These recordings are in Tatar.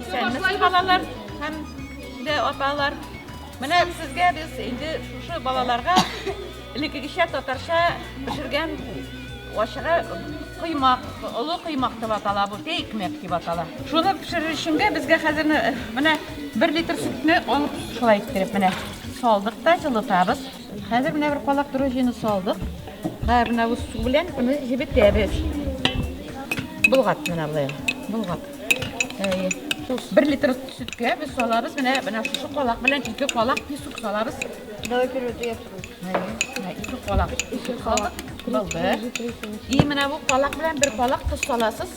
Исәнмесез, балалар һәм дә аталар. Менә сезгә без инде шушы балаларга элеккегечә татарча пешергән ашыга коймак, олы коймак дип атала бу, тә икмәк дип атала. Шуны пешерер өченгә безгә хәзер менә 1 литр сөтне алып шулай иттереп менә салдык та җылытабыз. Хәзер менә бер калак дрожжины салдык. Һәр менә бу су белән аны җебетәбез. Болгат менә болай. Болгат. Әйе. Бер литр сөткә без салабыз менә менә шушы калак белән ике калак песок салабыз. Давай первый ты я второй. Ике калак. Ике калак. Балды. И менә бу калак белән бер калак тоз саласыз.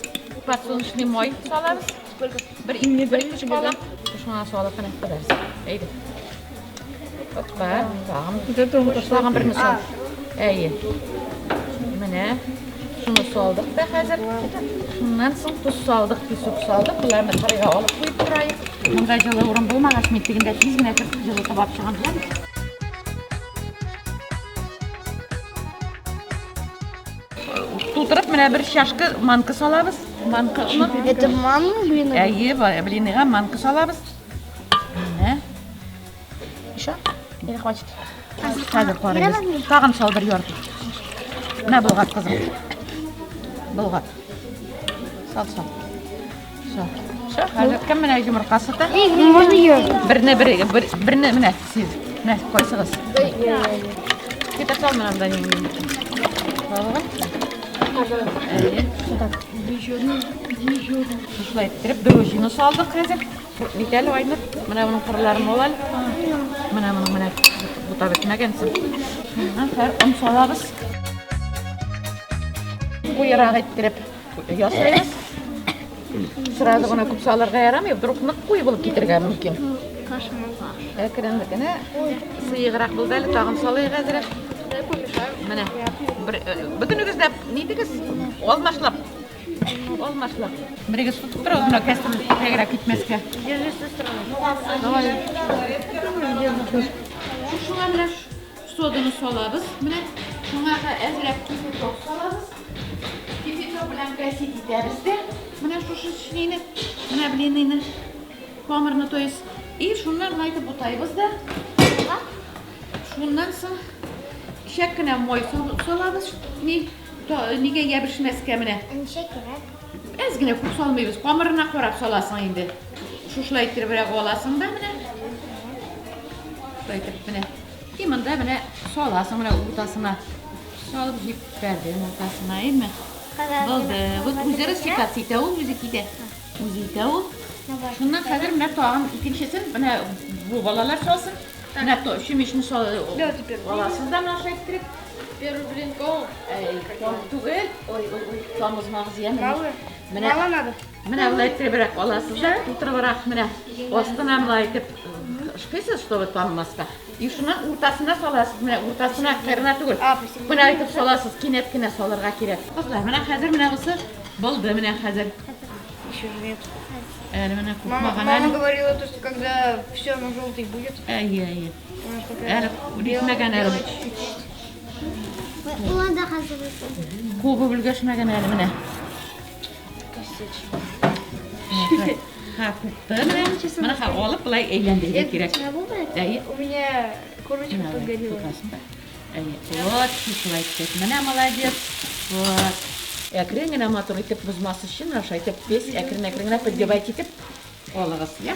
Подсолнечный май салабыз. Сколько? Бер ике бер ике шкала. Шуңа салып кына кадәрс. Әйдә. Оппа, тагын. Дә тугы ташлаган берне сал. Әйе. Менә шуны салдык та хәзер. Шуннан соң туз салдык, песок салдык. Боларны карыйга алып куеп торайык. Монда җылы урын булмагач, мин тегендә тиз генә кертеп җылы табап чыгам. Тутырып менә бер чашка манка салабыз. Манка оны. Это манка блины? Әйе, блиныга манка салабыз. Менә. Еще? Или хватит? Хәзер карыйбыз. Тагын сал бер ярты. Менә болгат кызым. Болгат. Сал, сал. Хәзер кем менә йомырка сата? Можно ее? Берне бер, бер, берне менә сез. Менә кайсыгыз? Китә сал менә да ни. Балыгы. Шулай иттереп дрожжины салдык хәзер. Бит әле айнып. Менә моның кырларын ал әле. Менә моның менә бута бетмәгәнсең. Хәзер он салабыз. Куйрак иттереп. Ясайбыз. Сразу гына күп салырга ярамый, вдруг нык куй булып китергә мөмкин. Әкрен генә сыеграк булды әле, тагын салыйк әзрәк. Менә бер бөтенегез дә нидегез? Алмашлап. Алмашлап. Берегез тотып тора, гына кәсем тәгәрәк китмәскә. Держи сестру. Давай. Шушылар белән Соданы салабыз. Менә шуңа да әзрәк кипяток салабыз. Кипяток белән кәсит итәбез дә. Менә шушы чилине, менә блиныйны, камырны, то есть. И шуннан майтып бутайбыз да. Шуннан соң шәк кенә мой салабыз. Ни, нигә ябышмәскә менә. Ничә кирәк? Әз генә күп салмыйбыз. Камырына карап саласың инде. Шушылай иттереп аласың да менә. Шулай итеп менә. И монда менә саласың менә уртасына. Салып җиппәрдең уртасына, әйме? Булды. Вот үзләре стекаться итә ул, үзе китә. Үзе итә ул. Шуннан хәзер менә тагын икенчесен менә бу балалар салсын. Менә то чүмечне саласыз да наша иттереп. Первый блин ком. Ком түгел. Ой, ой, ой, камызмагыз яме. Мало. Менә мало надо. Менә болай иттеребрәк аласыз да, тутырыбрак менә астына болай итеп шкыйсыз, чтобы танымаска. И шуны уртасына саласыз, менә уртасына кырына түгел. Менә итеп саласыз, кинәт кенә салырга кирәк. Кызлар, менә хәзер менә бусы булды менә хәзер. Еще же нет. Әле менә купмаган әле. Мама говорила, то, что когда все оно желтый будет. Әйе, әйе. Әле битмәгән әле. Кубы бүлгәшмәгән әле менә. алып былай әйләндерергә кирәк. У меня корочка подгорела. Вот, шулай итеп. Менә молодец. Вот. Әкрен генә матур итеп бозмас өчен, аша итеп, без әкрен-әкрен генә поддевать итеп алыгыз, я?